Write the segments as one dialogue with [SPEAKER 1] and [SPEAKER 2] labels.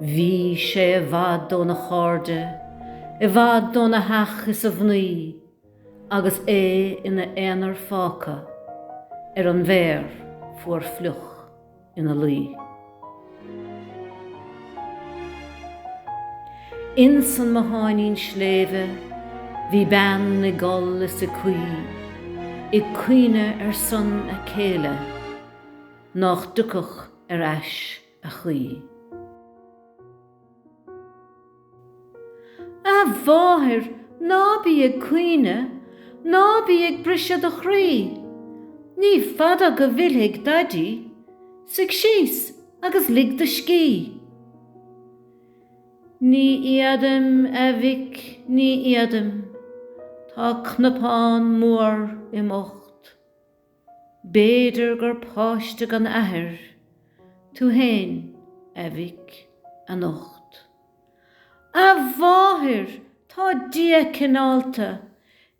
[SPEAKER 1] Bhí sé i bhfad óna chairde, i bhfad óna theach is a mhnaoi, agus é ina aonar fágtha ar an bhféar fuar fliuch ina luí. Ins an mbotháinín sléibhe bhí bean ag gol is ag caoi, ag caoineadh ar son a céile, nách dtiocfadh ar ais a choíche. A mháthair, ná bí ag caoineadh, ná bí ag briseadh do chroí. Ní fada go bhfillfidh daidí. Suigh síos agus lig do scíth. Ní fhéadaim, a mhic, ní fhéadaim. Tá cnapán mór im ucht. B'fhéidir gur páiste gan athair tú fhéin, a mhic, anocht. A mháthair! Tá Dia cineálta!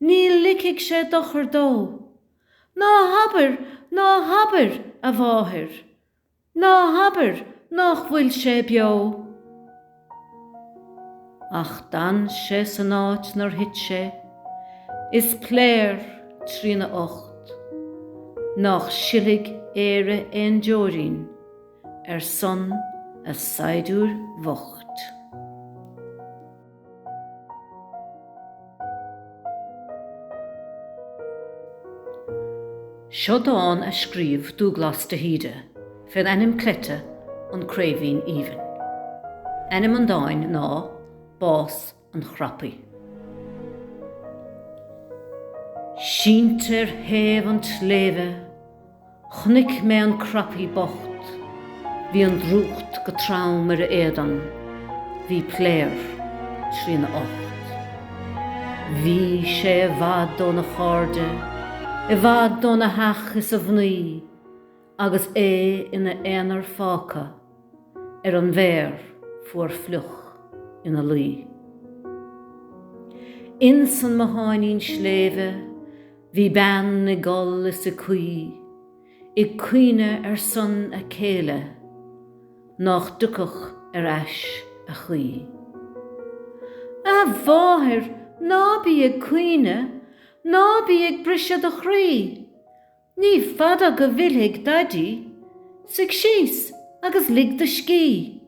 [SPEAKER 1] Ní ligfidh sé dochar dó! Ná habair! Ná habair, a mháthair! Ná habair nách bhfuil sé beo! Ach d'fhan sé san áit 'nar thit sé, is p'léar, trína ucht, nách silfidh Éire aon deoirín ar son a saighdiúir bhoicht. Seo dán a scríobh Dúglás de hÍde fén ainm cleite 'An Craoibhín Aoibhinn'. Ainm an dáin ná 'Bás an Chrapaí'. Sínte ar thaobh an tsléibhe. Chonaic mé an crapaí bocht, bhí an drúcht go trom ar a éadan, bhí p'léar trína ucht. Bhí sé i bhfad óna chairde, i bhfad óna theach is a mhnaoi, agus é ina aonar fágtha. ar an bhféar fuar fliuch ina luí. Ins an mbotháinín sléibhe bhí bean ag gol is ag caoi, ag caoineadh ar son a céile nách dtiocfadh ar ais a choíche. A mháthair, ná bí ag caoineadh, ná bí ag briseadh do chroí, Ní fada go bhfillfidh Daidí, suigh síos agus lig do scíth.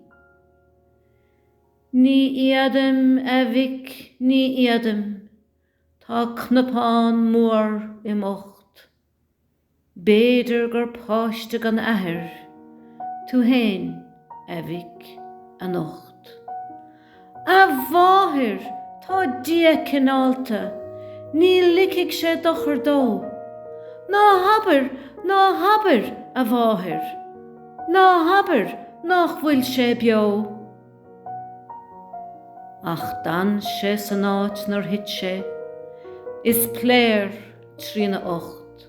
[SPEAKER 1] Ní fhéadaim, a mhic, ní fhéadaim, tá cnapán mór im ucht. B'fhéidir gur páiste gan athair tú fhéin, a mhic, anocht. A mháthair, tá Dia cineálta. Ní ligfidh sé dochar dó. Ná habair, ná habair, a mháthair. Ná habair nach bhfuil sé beo. Ach d'fhan sé san áit 'nar thit sé. Is piléar trína ucht.